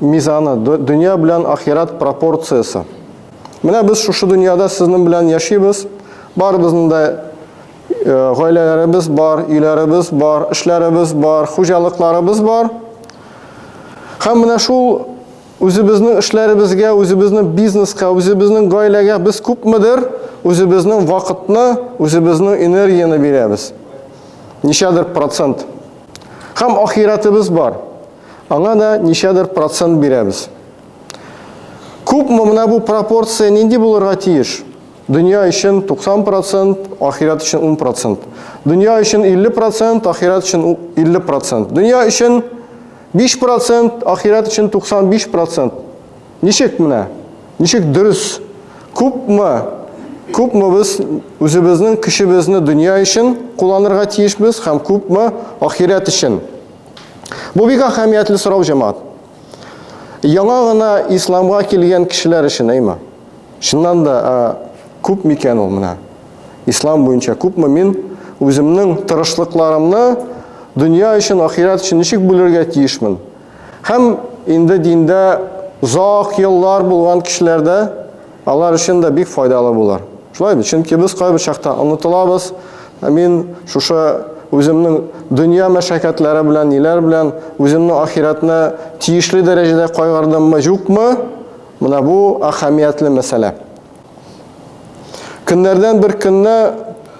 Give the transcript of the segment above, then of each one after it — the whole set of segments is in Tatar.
Мизаны, дөнья белән ахират пропорциясе. Менә без шушы дөньяда сезнең белән яшибез. Барыбызның да э, гаиләләребез бар, өйләребез бар, эшләребез бар, хуҗалыкларыбыз бар. Һәм менә шул үзебезнең эшләребезгә, үзебезнең бизнеска, үзебезнең гаиләгә без күпмедер үзебезнең вакытны, үзебезнең энергияне бирәбез. Ничәдер процент. Һәм ахиратыбыз бар. Аңа да ничәдер процент бирәбез. Күпме менә бу пропорция нинди булырга тиеш? Дөнья өчен 90 процент, ахират өчен 10 процент. Дөнья өчен 50 процент, ахират өчен 50 процент. Дөнья өчен 5 процент, ахират өчен 95 процент. Ничек менә? Ничек дөрес? Күпме? Күпме без үзебезнең көчебезне дөнья өчен кулланырга тиешбез һәм күпме ахират өчен? Бу бик әһәмиятле сорау, җәмәгать. Яңа гына исламга килгән кешеләр өчен, әйме? Чыннан да, күп микән ул менә? Ислам буенча күпме мин үземнең тырышлыкларымны дөнья өчен, ахирәт өчен ничек бүлергә тиешмен? Һәм инде диндә зак еллар булган кешеләрдә Алар өчен дә бик файдалы булыр. Шулай бит? Чөнки без кайбер чакта онытылабыз. Мин шушы үземнең дөнья мәшәкатьләре белән, ниләр белән үземне ахирәтне тиешле дәрәҗәдә кайгырдыммы, юкмы? Менә бу әһәмиятле мәсьәлә. Көннәрдән бер көнне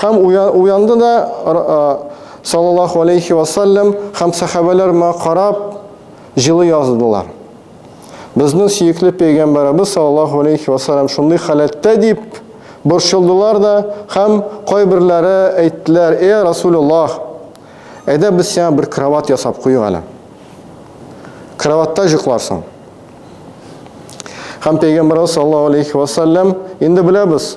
Һәм уянды да, саллаллаһу алейхи вә саллям, һәм сәхабәләр моңа карап, җылы яздылар. Безнең сөекле пәйгамбәребез саллаллаһу алейхи вә саллям шундый халәттә дип борчылдылар да, һәм кайберләре әйттеләр: "Э, Расулуллаһ, әйдә без сиңа бер кровать ясап куйыйк әле. Кроватьта җокларсың." Һәм пәйгамбәребез саллаллаһу алейхи вә саллям, инде беләбез,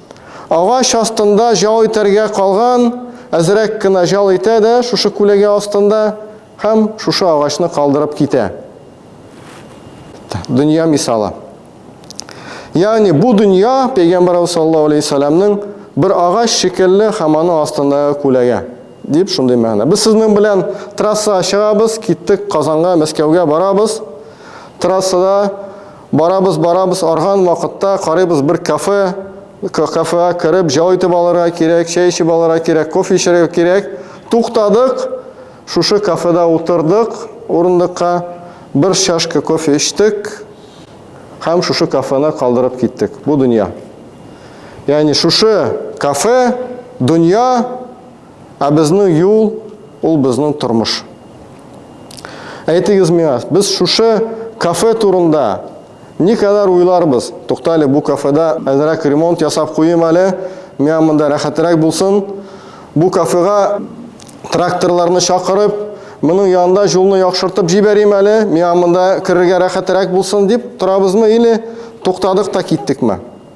Агач астында җал итәргә калган, әзрәк кенә җал итә дә шушы күләгә астында һәм шушы агачны калдырып китә. Дөнья мисалы. Ягъни бу дөнья пәйгамбәрбез саллаллаһу алейһи саламның бер агач шикелле һәм аның астындагы күләгә дип шундый мәгънә. Без сезнең белән трасса чыгабыз, киттек Казанга, Мәскәүгә барабыз. Трассада Барабыз, барабыз, арган вакытта карыйбыз бер кафе, кафега кереп, җау итеп алырга кирәк, чәй эчеп алырга кирәк, кофе эчәргә кирәк. Туктадык, шушы кафеда утырдык урындыкка, бер чашка кофе эчтек һәм шушы кафены калдырып киттек. Бу дөнья. Ягъни шушы кафе, дөнья Ә безнең юл, ул безнең тормыш. Әйтегез миңа, без шушы кафе турында никадәр уйларбыз? Туктале, бу кафеда әзрәк ремонт ясап куйыйм әле, миңа монда рәхәтерәк булсын. Бу кафега тракторларны чакырып, моның янында юлны яхшыртып җибәрим әле, миңа монда керергә рәхәтерәк булсын дип торабызмы или туктадык та киттекме?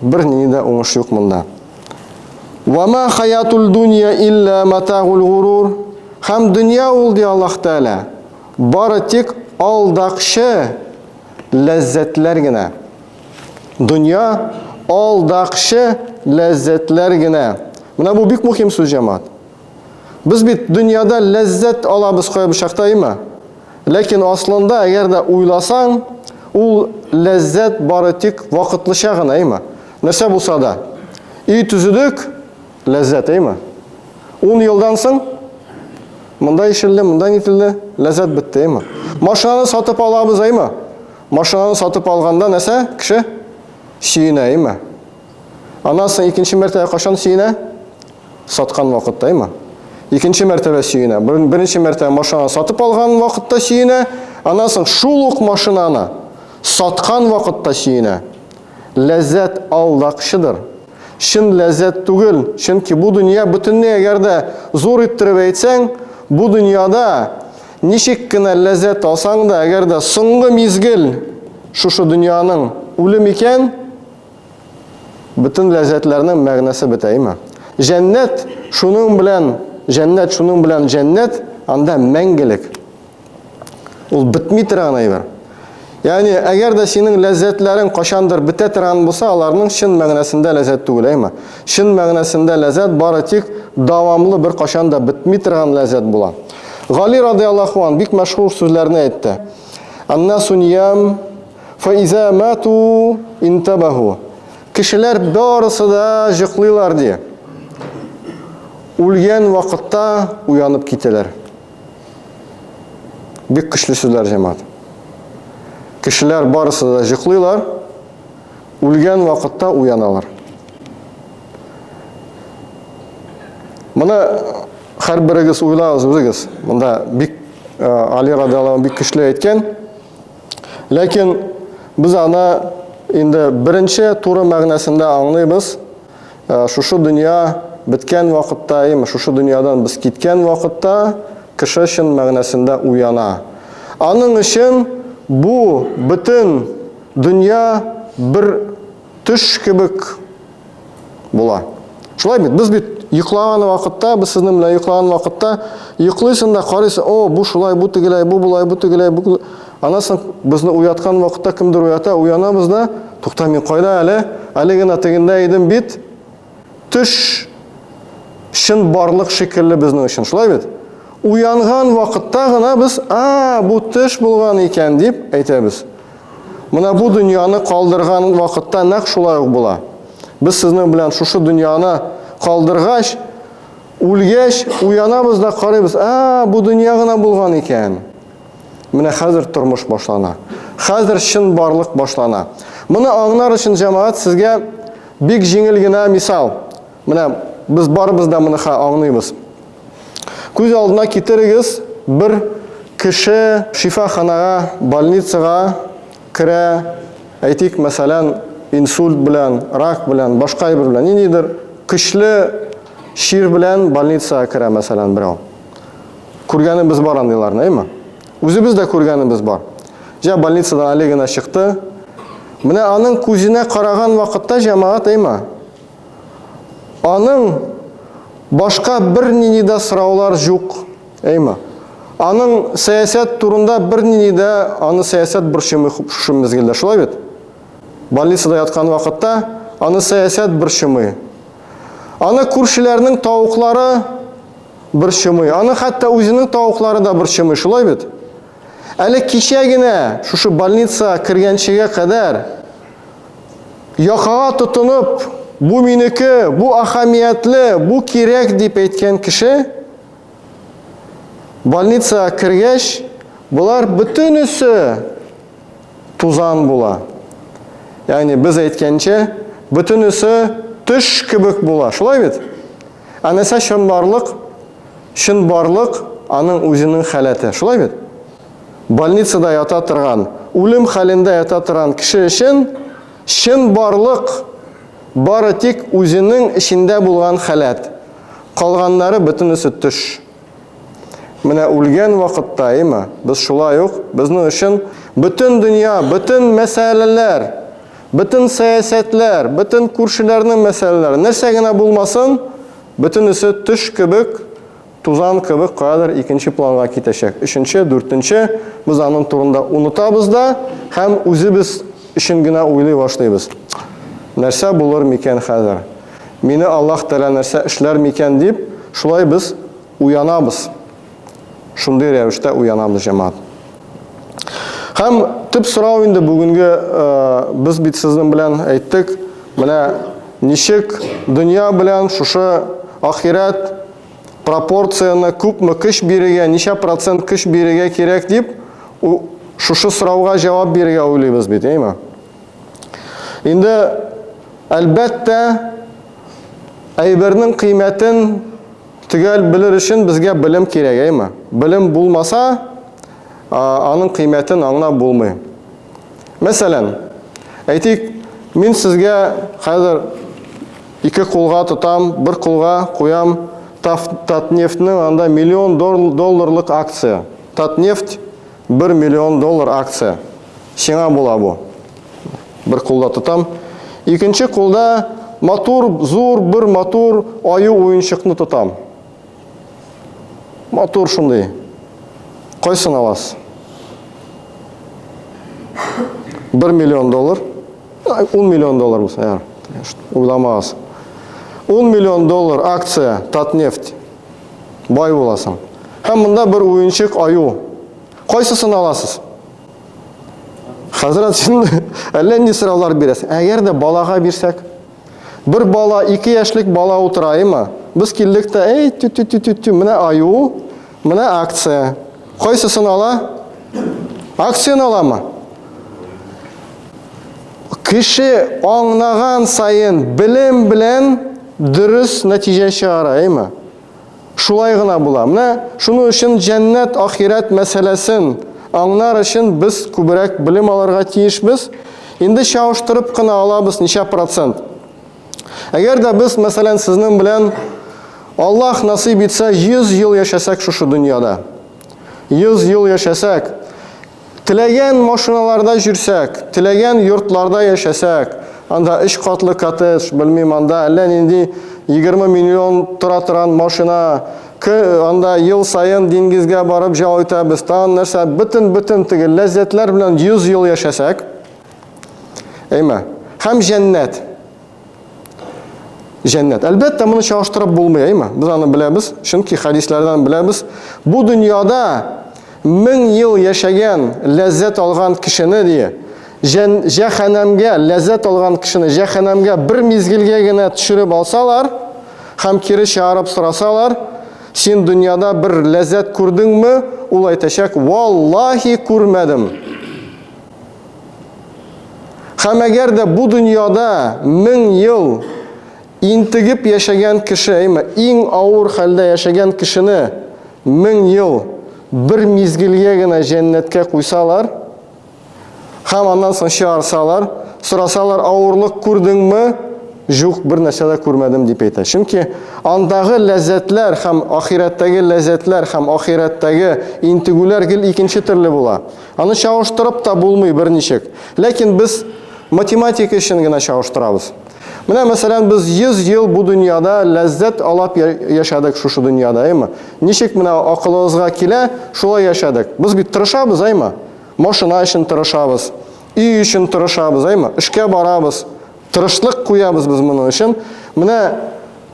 Бер ни дә уңыш юк монда. Ва ма хаятул дунья илля матагул гурур. Хәм дөнья ул ди Аллаһ Тәгалә. Бары тик алдакчы ләззәтләр генә. Дөнья алдакчы ләззәтләр генә. Менә бу бик мөһим сүз җәмаат. Без бит дөньяда ләззәт алабыз кая бычактаймы? Ләкин аслында, әгәр дә уйласаң, ул ләззәт бары тик вакытлыча гына, әйме? Нәрсә булса да. Өй төзедек, ләззәт, әйме? Ун елдан соң монда ишелде, монда нителде, ләззәт бетте, әйме? Машинаны сатып алабыз, әйме? Машинаны сатып алганда нәрсә? Кеше сөенә, әйме? Аннан соң икенче мәртәбә кашан сөенә? Саткан вакыт тайма. Икенче мәртәбә сөенә. Беренче мәртәбә машинаны сатып алган вакытта сөенә. Аннан соң шул ук машинаны саткан вакытта сөенә. Ләззәт алдакчыдыр. Чын ләззәт түгел, чөнки бу дөнья бөтенләй әгәр дә зур иттереп әйтсәң, бу дөньяда ничек кенә ләззәт алсаң да, әгәр дә соңгы мизгел шушы дөньяның үлем икән, Бөтен ләззәтләрнең мәгънәсе бетәйме? Җәннәт шуның белән, җәннәт шуның белән җәннәт, анда мәңгелек. Ул бетми торган әйбер. Ягъни, әгәр дә синең ләззәтләрең кашандыр бетә торган булса, аларның чын мәгънәсендә ләззәт түгел, әйме? Чын мәгънәсендә ләззәт бары тик дәвамлы бер кашан да бетми торган ләззәт була. Гали радиаллаху ан бик мәшһүр сүзләрне әйтте. Аннасу ниям Фаиза мату интабаху. Кешеләр барысы да җыклыйлар ди. Үлгән вакытта уянып китәләр. Бик көчле сүзләр җәмәгать. Кешеләр барысы да җыклыйлар, үлгән вакытта уяналар. Моны һәрберегез уйлагыз үзегез. Монда бик Али радиаллаһу бик көчле әйткән. Ләкин без аны инде беренче туры мәгънәсендә аңлыйбыз. Э, шушы дөнья беткән вакытта, яме шушы дөньядан без киткән вакытта кеше чын мәгънәсендә уяна. Аның өчен бу бөтен дөнья бер Төш кебек була. Шулай бит, без бит йоклаган вакытта, без сезнең белән йоклаган вакытта йоклыйсың да карыйсың, о, бу шулай, бу тегеләй, бу болай, бу тегеләй, бу Аннан соң безне уяткан вакытта кемдер уята, уянабыз да, тукта, мин кайда әле? Әле генә тегендә идем бит. Төш чын барлык шикелле безнең өчен, шулай бит? Уянган вакытта гына без, а, бу төш булган икән, дип әйтәбез. Менә бу дөньяны калдырган вакытта нәкъ шулай ук була. Без сезнең белән шушы дөньяны калдыргач, үлгәч, уянабыз да карыйбыз, а, бу дөнья гына булган икән. Менә хәзер тормыш башлана. Хәзер чын барлык башлана. Моны аңнар өчен җәмәгать сезгә бик җиңел генә мисал. Менә без барыбыз да моны аңлыйбыз. Күз алдына китерегез, бер кеше шифаханага, больницага керә, әйтик, мәсәлән, инсульт белән, рак белән, башка әйбер белән, ниндидер көчле чир белән больницага керә, мәсәлән, берәү. Күргәнебез бар андыйларны, әйме? Үзебез дә күргәнебез бар. Җә больницадан Олегина чыкты. Менә аның күзенә караган вакытта җәмәгать, әйме? Аның башка бер нинди дә сораулар җук, әйме? Аның сәясәт турында бер нинди дә аны сәясәт борчымый шушы мезгелдә, шулай бит? Больницада яткан вакытта аны сәясәт борчымый. Аны күршеләрнең тавыклары борчымый. Аны хәтта үзенең тавыклары да борчымый, шулай бит? Әле кичә генә шушы больница кергәнчегә кадәр якага тотынып, бу минеке, бу ахамиятле, бу кирәк дип әйткән кеше больница кергәч, болар бөтенесе тузан була. Ягъни без әйткәнчә, бөтенесе төш кебек була. Шулай бит? Әнәсә чынбарлык, чынбарлык аның үзенең халәте. Шулай бит? Больницада ята торган, үлем хәлендә ята торган кеше өчен чынбарлык бары тик үзенең эчендә булган халәт. Калганнары бөтенесе төш. Менә үлгән вакытта, әйме, без шулай ук безнең өчен бөтен дөнья, бөтен мәсьәләләр, бөтен сәясәтләр, бөтен күршеләрнең мәсьәләләре, нәрсә генә булмасын, бөтенесе төш кебек, тузан кебек каядыр икенче планга китәчәк. Өченче, дүртенче, без аның турында онытабыз да һәм үзебез өчен генә уйлый башлыйбыз. Нәрсә булыр микән хәзер? Мине Аллаһ Тәгалә нәрсә эшләр микән дип, шулай без уянабыз. Шундый рәвештә уянабыз, җәмәгать. Һәм төп сорау инде бүгенге без бит сезнең белән әйттек, менә ничек дөнья белән шушы ахирәт пропорцияне күпме көч бирергә, ничә процент көч бирергә кирәк дип, шушы сорауга җавап бирергә уйлыйбыз бит, әйме? Инде, әлбәттә, әйбернең кыйммәтен төгәл белер өчен безгә белем кирәк, әйме? Белем булмаса, аның кыйммәтен аңлап булмый. Мәсәлән, әйтик, мин сезгә хәзер ике кулга тотам, бер кулга куям Татнефтьнең анда миллион долларлык акция. Татнефть Бер миллион доллар акция. Сиңа була бу. Бер кулда тотам. Икенче кулда матур, зур бер матур аю уенчыкны тотам. Матур шундый. Кайсын аласыз? Бер миллион доллар. Ун миллион доллар булса, яр. Уйламагыз. Ун миллион доллар акция Татнефть. Бай буласың. Һәм монда бер уенчык аю. Кайсысын аласыз? Хәзрәт син әллә нинди сораулар бирәсең. Әгәр дә балага бирсәк, бер бала, ике яшьлек бала утыраймы? Без килдек тә, әй, тю тю тю тю тю менә аю, менә акция. Кайсысын ала? Акцияны аламы? Кеше аңнаган сайын, белем белән Дөрес нәтиҗә чыгара, әйме? Шулай гына була. Менә шуның өчен җәннәт, ахирәт мәсьәләсен аңнар өчен без күбрәк белем алырга тиешбез. Инде чагыштырып кына алабыз, ничә процент. Әгәр дә без, мәсәлән, сезнең белән Аллаһ насыйп итсә, 100 ел яшәсәк шушы дөньяда. 100 ел яшәсәк, Теләгән машиналарда җөрсәк, теләгән йортларда яшәсәк, анда өч катлы коттедж, белмим, анда әллә нинди егерме миллион тора торган машина, ке, анда ел саен диңгезгә барып җал итәбез, тагын нәрсә, бөтен-бөтен теге ләззәтләр белән йөз ел яшәсәк, әйме, һәм җәннәт. Җәннәт. Әлбәттә, моны чагыштырып булмый, әйме? Без аны беләбез, чөнки хәдисләрдән беләбез. Бу дөньяда мең ел яшәгән, ләззәт алган кешене дие, җәһәннәмгә ләззәт алган кешене җәһәннәмгә бер мизгелгә генә төшереп алсалар һәм кире чыгарып сорасалар, син дөньяда бер ләззәт күрдеңме? Ул әйтәчәк, валлаһи күрмәдем. Һәм әгәр дә бу дөньяда мең ел интегеп яшәгән кеше, әйме, иң авыр хәлдә яшәгән кешене мең ел бер мизгелгә генә җәннәткә куйсалар, һәм аннан соң чыгарсалар, сорасалар, авырлык күрдеңме? Җук, бер нәрсә дә күрмәдем, дип әйтә. Чөнки андагы ләззәтләр һәм ахирәттәге ләззәтләр һәм ахирәттәге интегүләр гел икенче төрле була. Аны чагыштырып та булмый берничек. Ләкин без математика өчен генә чагыштырабыз. Менә, мәсәлән, без 100 ел бу дөньяда ләззәт алап яшәдек шушы дөньяда, әйме? Ничек менә акылыбызга килә, шулай яшәдек. Без бит тырышабыз, әйме? Машина өчен тырышабыз, өй өчен тырышабыз, әйме? Эшкә барабыз, Тырышлык куябыз без моның өчен. Менә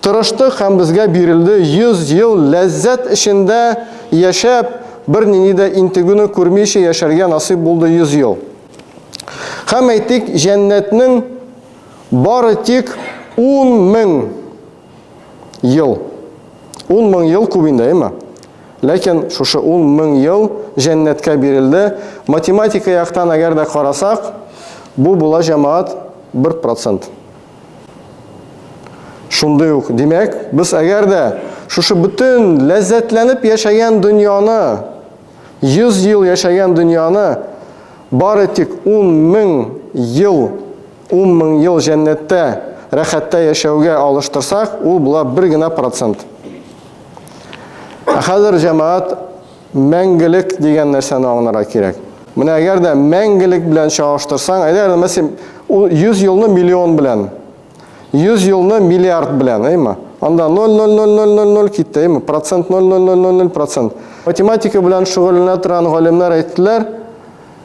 тырыштык һәм безгә бирелде 100 ел ләззәт эчендә яшәп, бер нинди дә интегүне күрмичә яшәргә насыйп булды 100 ел. Һәм әйтик, җәннәтнең бары тик 10 мең Ел. Ун мең ел күп инде, әйеме? Ләкин шушы ун мең ел җәннәткә бирелде. Математика яктан әгәр дә карасак, бу була, җәмәгать, бер процент. Шундый ук, димәк, без әгәр дә шушы бөтен ләззәтләнеп яшәгән дөньяны, 100 ел яшәгән дөньяны бары тик ун мең ел Ун мең ел җәннәттә, рәхәттә яшәүгә алыштырсак, ул була бер генә процент. Ә хәзер, җәмәгать, мәңгелек дигән нәрсәне аңларга кирәк. Менә әгәр дә мәңгелек белән чагыштырсаң, әйдә, мәсәлән, ул 100 елны миллион белән, 100 елны миллиард белән, әйме? Анда 0,00000 китте, әйме? Процент 0,00000%. Математика белән шөгыльләнә торган галимнәр әйттеләр,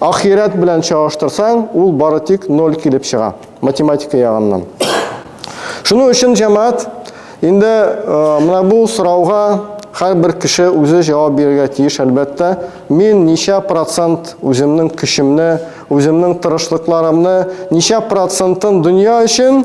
Ахирәт белән чагыштырсаң, ул бары тик ноль килеп чыга, математика ягыннан. Шуның өчен җәмәгать инде э, менә бу сорауга һәрбер кеше үзе җавап бирергә тиеш, әлбәттә. Мин ничә процент үземнең көчемне, үземнең тырышлыкларымны, ничә процентын дөнья өчен,